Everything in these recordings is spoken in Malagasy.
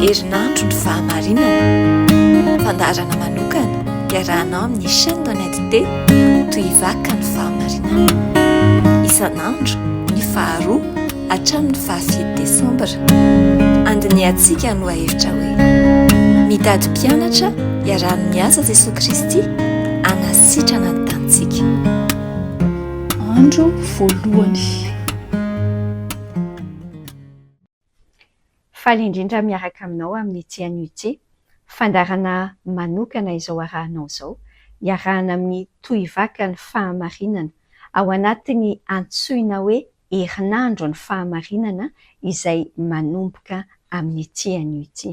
Herinandro ny fahamarinana. Fandaharana manokana iarahanao amin'ny chaîne Honnête T toy vaka ny fahamarinana. Isan'andro ny faharoa Hatramin'ny fahafito Desambra, andinihantsika ny lohahevitra hoe Mitady Mpianatra Iaraha-miasa Jesoa Kristy Hanasitrana ny Tanintsika. Andro voalohany. Faly indrindra miaraka aminao amin'ny TNUT, fandaharana manokana izao arahanao izao, iarahana amin'ny tohivakany fahamarinana, ao anatin'ny antsoina hoe herinandro ny fahamarinana izay manomboka amin'ity anio ity.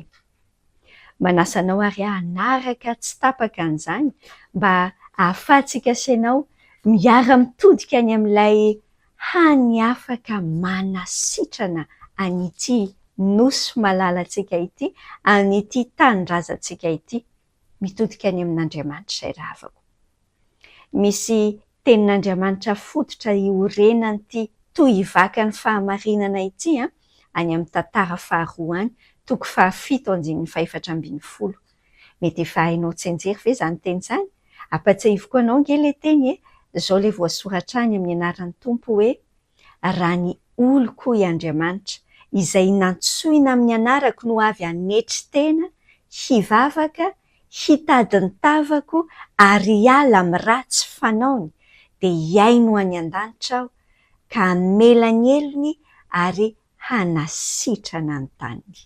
Manasa anao ary aho hanaraka tsy tapaka an'izany mba hahafahantsika sy ianao miara-mitodika any amin'ilay hany afaka manasitrana an'ity Nosy malalantsika ity, an'ity tanindrazantsika ity. mitodika any amin'Andriamanitra izay ravako. Misy tenin'Andriamanitra fototra iorenan'ity tohivakany fahamarinana ity any amin'ny tantara faharoa any, toko fahafito andininy fahefatra ambin'ny folo. Mety efa hainao tsianjery ve izany teny izany? Ampatsiahiviko anao ange ilay teny e! Izao ilay voasoratra any amin'ny anaran'ny Tompo hoe, raha ny oloko hoy Andriamanitra, izay nantsoina amin'ny anarako no avy hanetry tena, hivavaka, hitady ny tavako ary hiala amin'ny ratsy fanaony, dia hihaino any an-danitra aho, ka hamela ny helony ary hanasitrana ny taniny.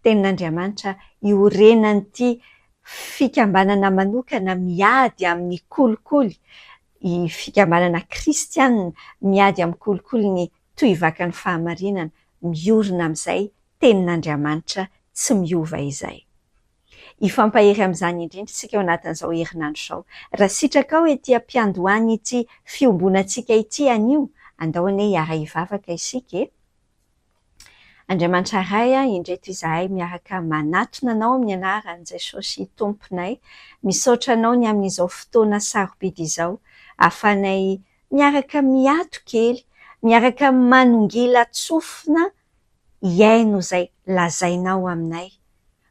Tenin'Andriamanitra iorenan'ity fikambanana manokana miady amin'ny kolikoly, ny fikambanana kristiana miady amin'ny kolikoly ny tohivakan'ny fahamarinana, miorina amin'izay tenin'Andriamanitra tsy miova izay. Hifampahery amin'izany indrindra isika ao anatin'izao herinandro izao. Raha sitrakao ety am-piandohan'ity fiombonantsika ity anio, andao anie hiara-hivavaka isika e! Andriamanitra Ray a, indreto izahay miaraka manatona Anao amin'ny anaran'i Jesosy Tomponay, misaotra Anao ny amin'izao fotoana sarobidy izao, ahafahanay miaraka miato kely, miaraka manongila tsofina hihaino izay lazainao aminay,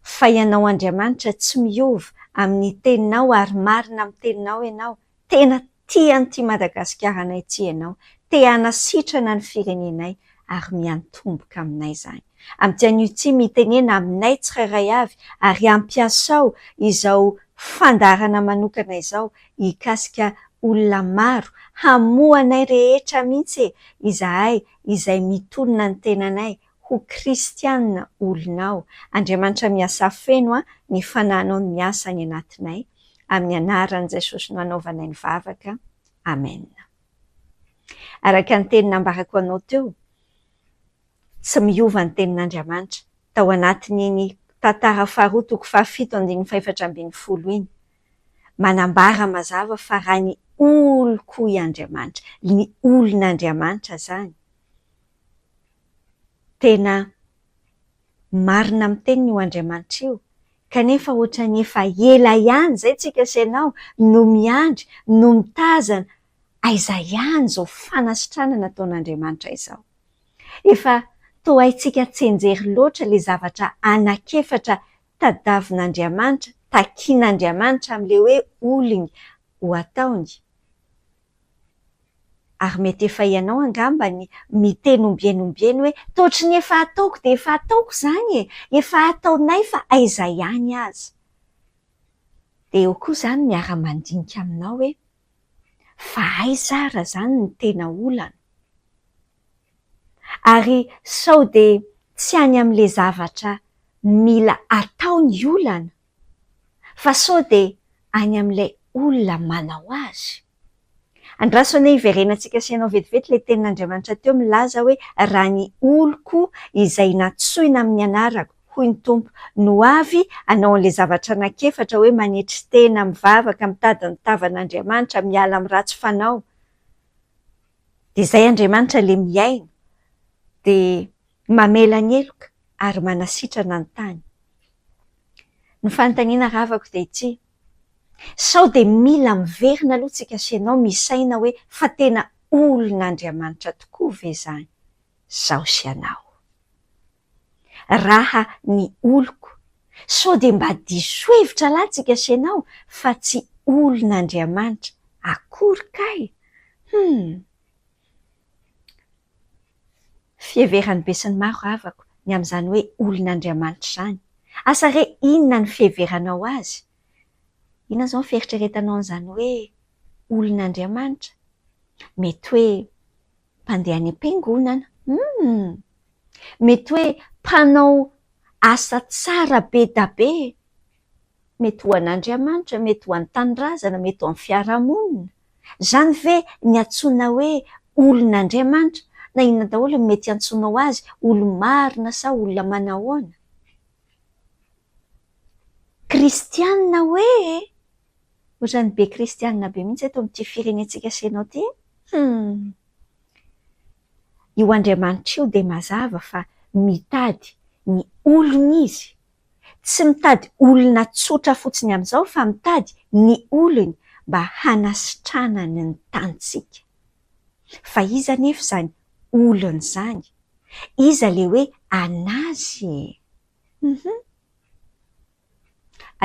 fa Ianao Andriamanitra tsy miova amin'ny teninao ary marina amin'ny teninao Ianao, tena tia an'ity Madagasikara anay ity Ianao, te hanasitrana ny firenenay ary miantomboka aminay izany. Amin'ity anio ity mitenena aminay tsirairay avy ary ampiasao izao fandaharana manokana izao hikasika olona maro, hamoha anay rehetra mihitsy e, izahay izay mitonona ny tenanay ho kristianina olonao. Andriamanitra miasa afeno ny fananao ny miasa any anatinay amin'ny anaran'i Jesosy no anaovanay ny vavaka amen. Araka ny teny nambarako anao teo tsy miova ny tenin'Andriamanitra tao anatin'iny tantara faharoa toko fahafito andininy fahefatra ambin'ny folo iny manambara mazava fa raha ny oloko i Andriamanitra, ny olon'Andriamanitra zany, tena marina amin'ny teniny io Andriamanitra io, kanefa ohatran'ny efa ela ihany izay tsika sy ianao no miandry, no mitazana, aiza ihany izao fanasitranana ataon'Andriamanitra izao? Efa toa haintsika tsy enjery loatra ilay zavatra anak'efatra tadavin'Andriamanitra, takin'Andriamanitra amin'ilay hoe olony ho ataony. Ary mety efa ianao angamba ny miteny ombieny ombieny hoe, Toa ohatry ny efa ataoko dia efa ataoko izany e! Efa ataonay fa aiza ihany aza. Dia eo koa izany miara-mandinika aminao hoe, Fa aiza ary izany ny tena olana? ary sao dia tsy any amin'ilay zavatra mila atao ny olana fa sao dia any amin'ilay olona manao azy? Andraso anie hiverenantsika sy ianao vetivety ilay tenin'Andriamanitra teo milaza hoe, Raha ny oloko izay nantsoina amin'ny anarako, hoy ny Tompo, no avy hanao an'ilay zavatra anankiefatra hoe manetry tena, mivavaka, mitady ny tavan'Andriamanitra, miala amin'ny ratsy fanao, Dia izay Andriamanitra ilay mihaino, dia mamela ny heloka ary manasitrana ny tany. Ny fanontaniana ravako dia ity, sao dia mila miverina aloha tsika sy ianao misaina hoe fa tena olon'Andriamanitra tokoa ve izany izaho sy ianao? raha ny oloko, sao dia mba diso hevitra lahy tsika sy ianao fa tsy olon'Andriamanitra akory kay! Hum! Fiheveran'ny besinimaro havako ny amin'izany hoe olon'Andriamanitra izany. Asa re inona ny fiheveranao azy? Inona izao ny fieritreretanao an'izany hoe olon'Andriamanitra? Mety hoe Mpandeha any am-piangonana, humm! Mety hoe mpanao asa tsara be da be, mety ho an'Andriamanitra, mety ho an'ny tanindrazana, mety ho an'ny fiarahamonina. Izany ve ny antsoina hoe olon'Andriamanitra? Na inona daholo ny mety hiantsoanao azy, olo-marina sa olona manahoana? Kristianina hoe e! Otrany be kristianina be mihitsy eto amin'ity firenentsika Seno ity e! Humm! Io Andriamanitra io dia mazava fa mitady ny olony izy, tsy mitady olona tsotra fotsiny amin'izao fa mitady ny olony mba hanasitranany ny tanintsika. Fa iza anefa izany olony izany? Iza ilay hoe an'azy e? Humm!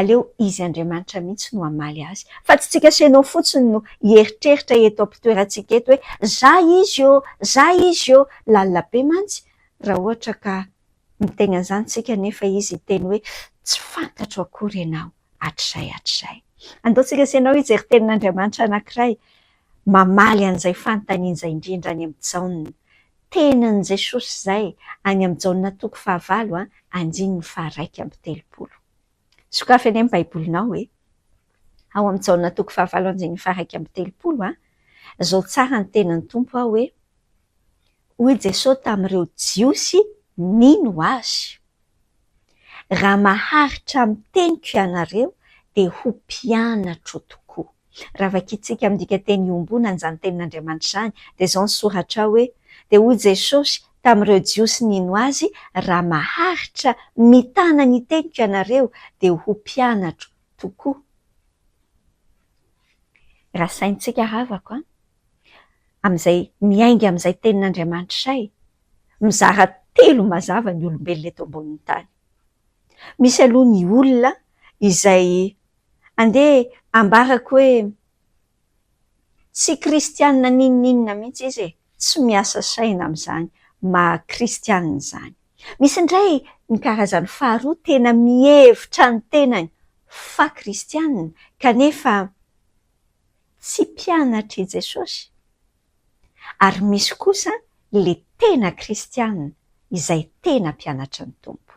Aleo izy Andriamanitra mihitsy no hamaly azy, fa tsy tsika sy ianao fotsiny no hieritreritra eto am-pitoerantsika eto hoe za izy ô! za izy ô! Lalina be mantsy raha ohatra ka miteny an'izany tsika nefa izy hiteny hoe tsy fantatro akory ianao hatrizay hatrizay. Andao tsika sy ianao hijery tenin'Andriamanitra anankiray Mamaly an'izay fanontaniana izay indrindra any amin'i Jaona. Tenin'i Jesosy izay any amin'i Jaona toko fahavalo andininy faharaika amby telopolo. Sokafy anie ny Baibolinao e! Ao amin'i Jaona toko fahavalo andininy faharaika amby telopolo a! Zao tsara ny tenin'ny Tompo aho hoe, Hoy Jesosy tamin'ireo Jiosy nino Azy, Raha maharitra amin'ny teniko ianareo dia ho mpianatro tokoa. Raha vakintsika amin'ny dikanteny iombonana izany tenin'Andriamanitra izany dia izao ny soratra ao hoe, Dia hoy Jesosy tamin'ireo Jiosy nino Azy, Raha maharitra mitana ny teniko ianareo dia ho mpianatro tokoa. Rasaintsika havako an! amin'izay miainga amin'izay tenin'Andriamanitra izay, mizara telo mazava ny olombelona eto ambonin'ny tany. Misy aloha ny olona izay Andeha ambarako hoe tsy kristianina n'inon'inona mihitsy izy e, tsy miasa saina amin'izany maha kristianina izany. Misy indray ny karazany faharoa tena mihevitra ny tenany fa kristianina kanefa tsy mpianatr'i Jesosy. ary misy kosa le tena kristianina izay tena mpianatry ny Tompo.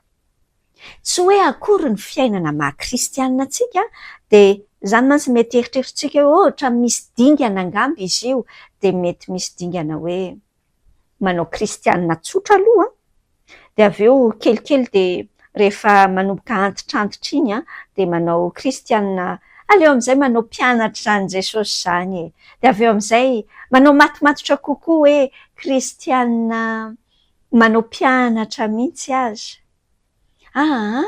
Tsy hoe akory ny fiainana maha kristianina antsika dia izany mantsy mety eritrerotsika hoe ohatra misy dingana angamba izy io dia mety misy dingana hoe manao kristianina tsotra aloha Dia avy eo kelikely dia rehefa manomboka antitrantitra iny an, dia manao kristianina, aleo amin'izay manao mpianatra izany Jesosy izany e! Dia avy eo amin'izay manao matomatotra kokoa hoe kristianina manao mpianatra mihitsy aza. Aa!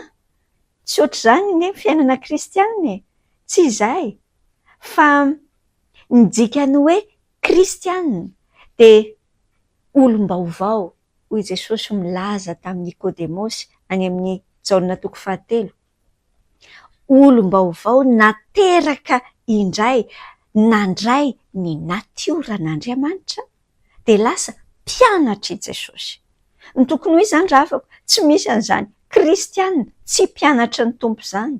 Tsy ohatr'izany anie ny fiainana kristianina e! Tsy izay! Fa ny dikan'ny hoe kristianina dia olom-baovao, hoy Jesosy milaza tamin'i Nikodemosy any amin'ny Jaona toko fahatelo, olom-baovao nateraka indray nandray ny natioran'Andriamanitra dia lasa mpianatr'i Jesosy. Tokony ho izy izany ravako, tsy misy an'izany kristiana tsy mpianatry ny Tompo izany.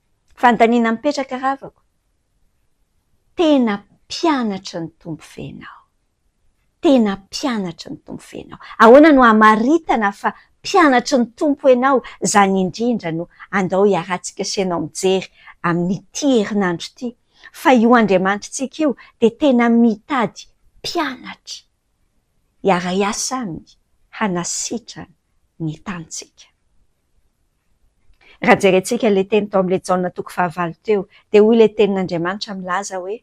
Fandaniana mipetraka ravako. Tena mpianatry ny Tompo ve ianao? Tena mpianatry ny Tompo ve ianao? Ahoana no hamaritana fa mpianatry ny Tompo ianao? Izany indrindra no andao hiarahantsika sy ianao mijery amin'ity herinandro ity, fa io Andriamanitritsika io dia tena mitady mpianatra hiara-hiasa Aminy hanasitrana ny tanintsika. Raha jerentsika ilay teny tao amin'ilay Jaona toko fahavalo teo, dia hoy ilay Tenin'Andriamanitra milaza hoe,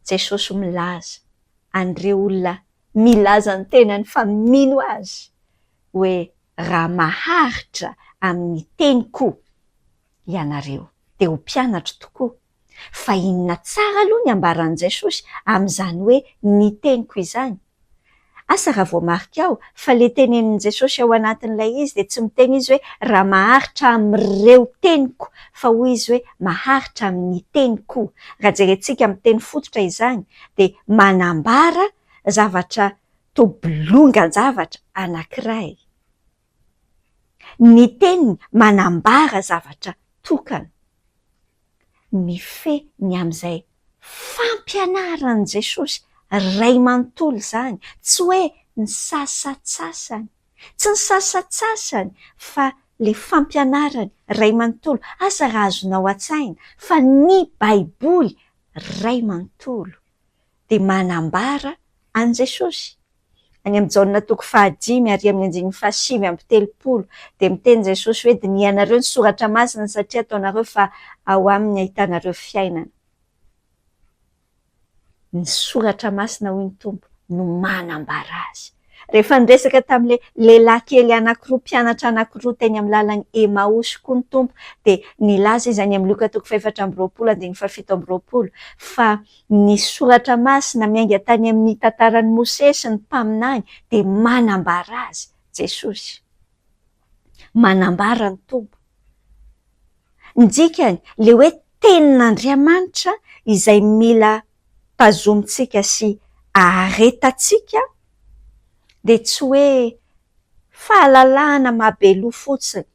Jesosy milaza an'ireo olona milaza ny tenany fa mino Azy hoe, Raha maharitra amin'ny teniko ianareo, dia ho mpianatro tokoa. Fa inona tsara aloha ny ambaran'i Jesosy amin'izany hoe ny teniko izany? Asa raha voamarika ao fa ilay tenenin'i Jesosy ao anatin'ilay izy dia tsy miteny izy hoe raha maharitra amin'ireo teniko fa hoy izy hoe maharitra amin'ny teniko. Raha jerentsika amin'ny teny fototra izany dia manambara zavatra toa bolongan-javatra anankiray. Ny teniny manambara zavatra tokana. Mifehy ny amin'izay fampianaran'i Jesosy Ray manontolo izany, tsy hoe ny sasantsasany, tsy ny sasantsasany fa ilay fampianaran'ny Ray manontolo. Asa raha azonao an-tsaina fa ny Baiboly Ray manontolo dia manambara an'i Jesosy. Any amin'i Jaona toko fahadimy ary amin'ny andininy fahasivy amby telopolo dia miteny Jesosy hoe dinihanareo ny soratra masina satria ataonareo fa ao aminy ahitanareo fiainana. Ny soratra masina hoy ny Tompo no manambara azy. Rehefa niresaka tamin'ilay lehilahy kely anankiroa mpianatra anankiroa teny amin'ny lalan'i Emaosy koa ny Tompo dia nilaza Izy any amin'ny Lioka toko fahefatra amby roapolo andininy fahafito amby roapolo fa ny Soratra Masina miainga tany amin'ny tantaran'i Mosesy sy ny Mpaminany dia manambara azy, Jesosy. Manambara ny Tompo. Ny dikany, ilay hoe tenin'Andriamanitra izay mila tazomintsika sy aharetantsika dia tsy hoe fahalalahana maha-be loha fotsiny,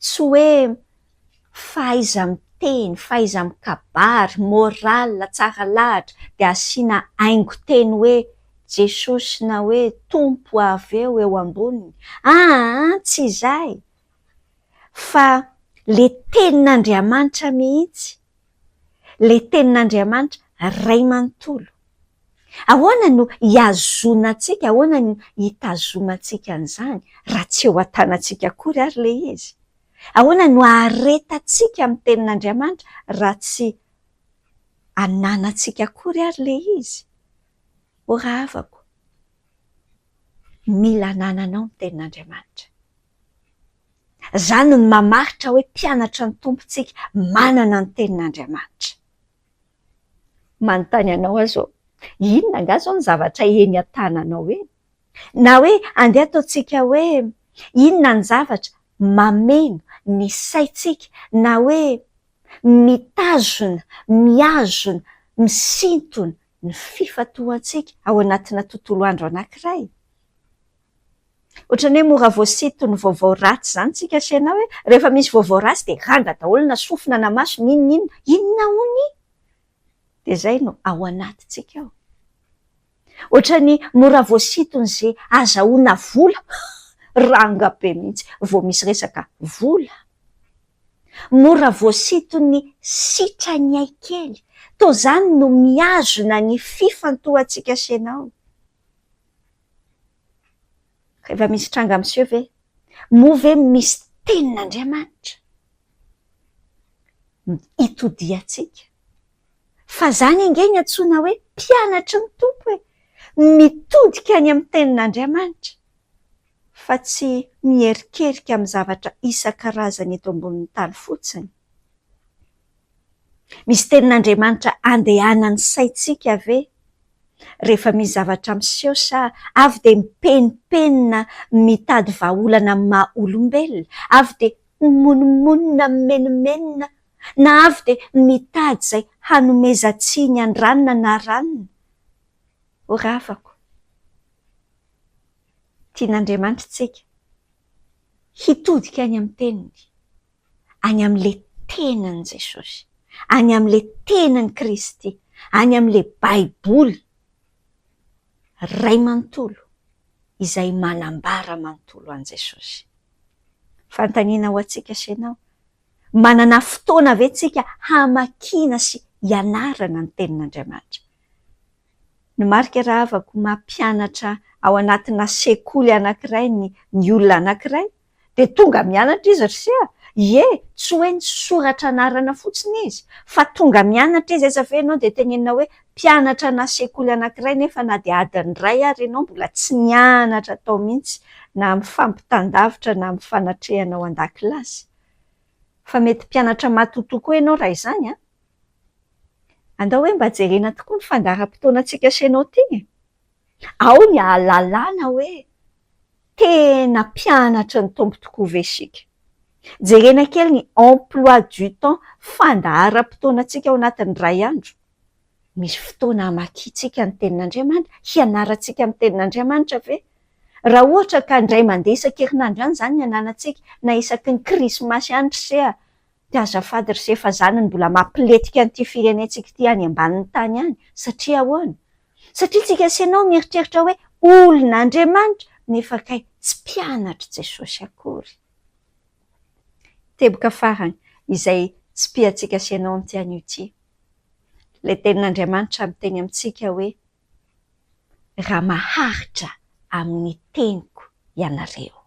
tsy hoe fahaiza-miteny, fahaiza-mikabary, moral, tsara lahatra, dia asiana haingon-teny hoe Jesosy na hoe Tompo avy eo eo amboniny, aa tsy izay fa le tenin'Andriamanitra mihitsy, le tenin'Andriamanitra Ray manontolo. Ahoana no ihazonantsika, ahoana no itazomantsika an'izany raha tsy eo an-tanantsika akory ary le izy? Ahoana no aharetantsika amin'ny Tenin'Andriamanitra raha tsy ananantsika akory ary ilay izy? O rahavako, mila anananao ny Tenin'Andriamanitra. Izany no mamaritra hoe mpianatra ny Tompo isika, manana ny Tenin'Andriamanitra. Manontany anao aho izao, Inona angaha izao ny zavatra eny an-tananao eny? Na hoe andeha ataontsika hoe inona ny zavatra mameno ny saintsika na hoe mitazona, mihazona, misintona ny fifantohantsika ao anatina tontolo andro anankiray. Ohatran'ny hoe mora voasinton'ny vaovao ratsy izany isika anse na hoe rehefa misy vaovao ratsy dia ranga daholo na sofina na maso na inona inona. Inona hono i? Dia izay no ao anatintsika ao. Otrany mora voasitony ze azahoana vola ranga be mihitsy vao misy resaka vola. Mora voasitony sitrany ay kely to zany no mihazona ny fifantohantsika sy enao. Reva misy tranga miseho ve moa ve misy tenin'Andriamanitra itodihantsika. Fa izany ange no antsoina hoe mpianatry ny Tompo e! Mitodika any amin'ny Tenin'Andriamanitra, fa tsy miherikerika amin'ny zavatra isan-karazany eto ambonin'ny tany fotsiny. Misy Tenin'Andriamanitra andehanan'ny saintsika ve, rehefa misy zavatra miseho sa avy dia mipenipenina mitady vahaolana amin'ny maha-olombelona, avy dia mimonomonona mimenomenona na avy dia mitady izay hanomezan-tsiny an'i Ranona na Ranona ho ravako. Tian'Andriamanitra isika hitodika any amin'ny Teniny, any amin'ilay tenan'i Jesosy, any amin'ilay tenan'i Kristy, any amin'ilay Baiboly Ray manontolo izay manambara manontolo an'i Jesosy. Fanontaniana ho antsika sy ianao. Manana fotoana ve tsika hamakiana sy hianarana ny tenin'Andriamanitra? Ny marika rahavako mampianatra ao anatina sekoly anankiray ny ny olona anankiray dia tonga mianatra izy ry se a! ie, tsy hoe nisoratra anarana fotsiny izy fa tonga mianatra izy aiza ve ianao dia tenenina hoe Mpianatra ana sekoly anankiray nefa na dia adiny iray ary ianao mbola tsy nianatra tao mihitsy na amin'ny fampitan-davitra na amin'ny fanatrehana ao an-dakilasy. Fa mety mpianatra matotoa koa ianao raha izany an! Andao hoe mba jerena tokoa ny fandaharam-potoanantsika sy ianao ity e! Ao ny hahalalana hoe tena mpianatry ny Tompo tokoa ve isika. Jerena kely ny emploi du temps, fandaharam-potoanantsika ao anatin'ny iray andro. Misy fotoana hamakiantsika ny Tenin'Andriamanitra, hianarantsika ny Tenin'Andriamanitra ve? Raha ohatra ka indray mandeha isan-kerinandro ihany izany ny ananantsika, na isaky ny Krismasy ihany ry se a! Dia azafady ry se fa izany no mbola mampilentika an'ity firenentsika ity any ambanin'ny tany any. Satria ahoana? Satria tsika sy ianao mieritreritra hoe olon'Andriamanitra, nefa kay tsy mpianatr'i Jesosy akory. Teboka farany izay tsipihantsika sy ianao amin'ity anio ity. Ilay tenin'Andriamanitra miteny amintsika hoe, Raha maharitra amin'ny teniko ianareo.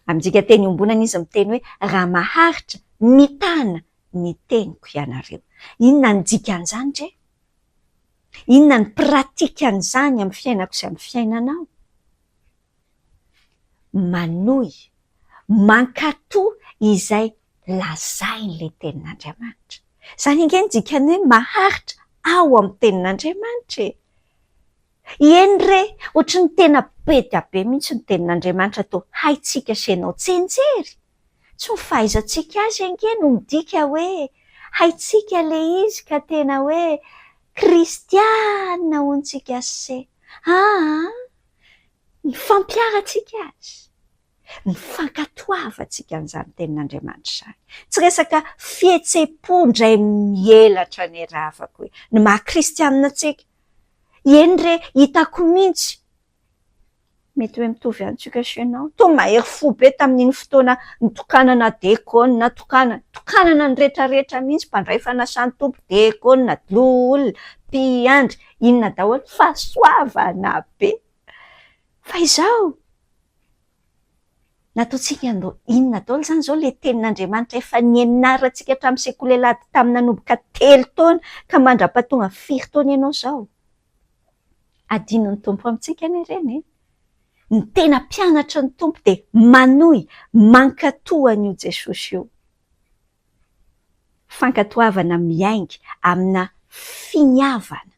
Amintsika teny iombonana izy miteny hoe, Raha maharitra mitana ny teniko ianareo. Inona ny dikan'izany re? Inona ny pratikan'izany amin'ny fiainako sy amin'ny fiainanao? manohy mankato izay lazain'ilay tenin'Andriamanitra. Izany ange no dikan'ny hoe maharitra ao amin'ny tenin'Andriamanitra e! Eny re, ohatran'ny tena be dia be mihitsy ny tenin'Andriamanitra toa haintsika sy ianao tsinjery. Tsy ny fahaizantsika azy ange no midika hoe haintsika ilay izy ka tena hoe kristiana hono tsika sse. Aa! Ny fampiharantsika azy, ny fankatoavantsika an'izany tenin'Andriamanitra izany. Tsy resaka fihetsem-po indray mihelatra ny ravako e! Ny maha kristianina antsika, eny re, hitako mihitsy, mety hoe mitovy antsika sy ianao, tony mahery fo be tamin'iny fotoana nitokanana diakona, tokanana, tokanana ny rehetrarehetra mihitsy, mpandray fanasan'ny Tompo, diakona, loholona, mpiandry, inona daholo, fahasoavana be. Fa izao, nataontsika andao inona daholo izany izao ilay tenin'Andriamanitra efa nianarantsika hatramin'ny sekoly alahady tamin'ny nanomboka telo taona ka mandra-pahatonga firy taona ianao izao? Hadinon'ny Tompo amintsika anie ireny e! Ny tena mpianatry ny Tompo dia manohy, mankatò an'io Jesosy io. Fankatoavana miainga amina finiavana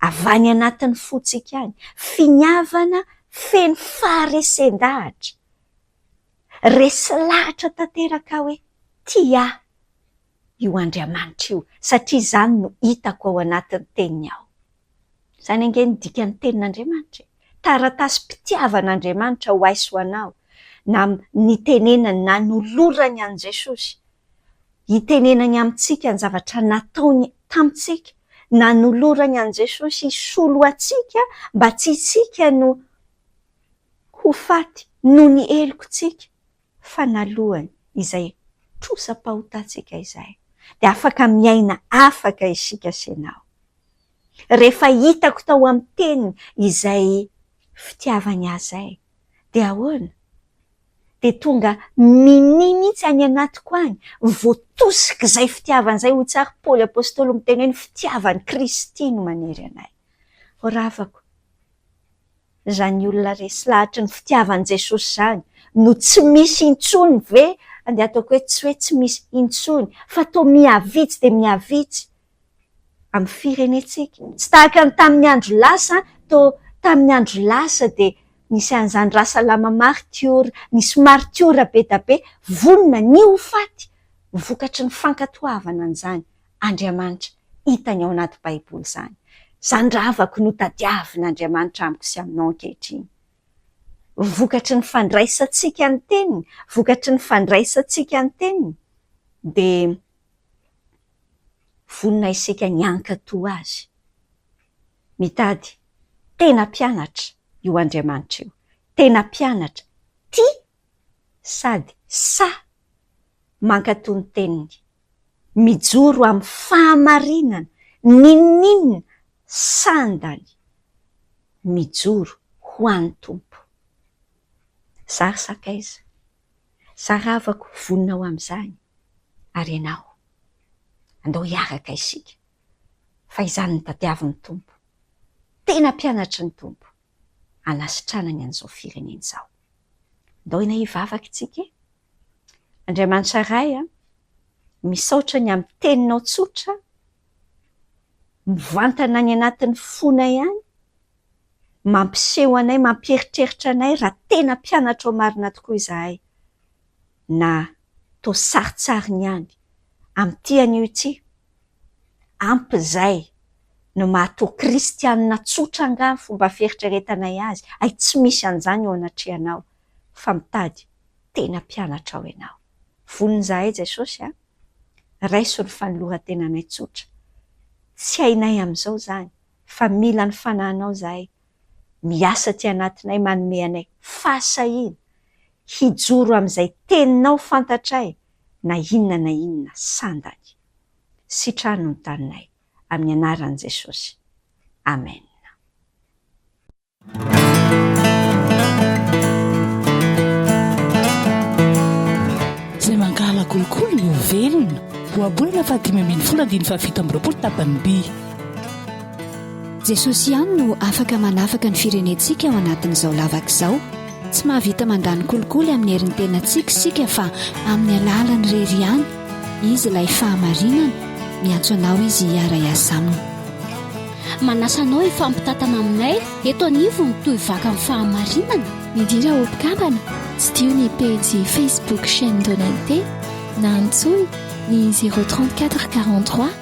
avy any anatin'ny fontsika any, finiavana feno faharesen-dahatra. Resy lahatra tanteraka hoe tia ahy io Andriamanitra io, satria izany no hitako ao anatin'ny Teniny ao. Izany ange ny dikan'ny tenin'Andriamanitra e! Taratasim-pitiavan'Andriamanitra ho ahy sy ho anao, na nitenenany, nanolorany an'i Jesosy hitenenany amintsika ny zavatra nataony tamintsika, nanolorany an'i Jesosy hisolo antsika mba tsy isika no ho faty noho ny heloka antsika. fa naloany izay trosa-pahotantsika izay dia afaka miaina afaka isika sy ianao. Rehefa hitako tao amin'ny Teniny izay fitiavany ahy izay, dia ahoana? Dia tonga minia mihitsy any anatiko any, voatosik'izay fitiavana izay, hoy tsara Paoly Apostoly miteny hoe ny fitiavan'i Kristy no maniry anay. Ravako. Izany olona resy lahatry ny fitiavan'i Jesosy izany no tsy misy intsony ve? Andeha ataoko hoe tsy hoe tsy misy intsony fa toa mihavitsy dia mihavitsy amin'ny firenentsika. Tsy tahaka ny tamin'ny andro lasa, toa tamin'ny andro lasa dia nisy an'izany Rasalama maritiora, nisy maritiora be da be, vonona ny ho faty vokatry ny fankatoavana an'izany. Andriamanitra hitany ao anaty Baiboly izany. Izany ravako no tadiavin'Andriamanitra amiko sy aminao ankehitriny. Vokatry ny fandraisantsika ny Teniny, vokatry ny fandraisantsika ny Teniny, dia vonona isika ny hankatò Azy. Mitady tena mpianatra io Andriamanitra io, tena mpianatra tia sady sahy mankatò ny teniny, mijoro amin'ny fahamarinana n'inon'inona sandany mijoro ho an'ny Tompo. Za ry sakaiza, za ravako vonona ho amin'izany, ary ianao? Andao hiaraka isika, fa izany no tadiavin'ny Tompo, tena mpianatry ny Tompo, hanasitranany an'izao firenena izao. Ndaoina hivavaka isika e! Andriamanitra Ray a, misaotra ny amin'ny teninao tsotra, mivantana any anatin'ny fonay any, mampiseho anay, mampieritreritra anay raha tena mpianatrao marina tokoa izahay. na toa sarintsariny ihany amin'ity anio ity? Ampy izay no mahatoa kristianina tsotra angaha ny fomba fieritreretanay azy? Hay tsy misy an'izany eo anatrehanao fa mitady tena mpianatrao ianao. Vonona izahay Jesosy a! Raiso ny fanolorantenanay tsotra. Tsy hainay amin'izao izany fa mila ny Fanahinao izahay. miasa aty anatinay manome anay fahasahiana hijoro amin'izay teninao fantatray na inona na inona sandany. Sitrano ny taninay amin'ny anaran'i Jesosy. Amen. Izay mankahala kolikoly dia ho velona. Ohabolana fahadimy ambin'ny folo andininy fahafito amby roapolo tapany by. Jesosy ihany no afaka manafaka ny firenentsika ao anatin'izao lavaka izao. Tsy mahavita mandany kolikoly amin'ny herin'ny tenantsika isika fa amin'ny alalany irery ihany. Izy ilay fahamarinana. Miantso anao izy hiara-hiasa aminy. Manasa anao hifampitantana aminay eto anivon'ny Toy Vaka amin'ny Fahamarinana. Midira ho mpikambana, Tsidiho ny pejy Facebook Chaîne Donente na antsoy ny 034 43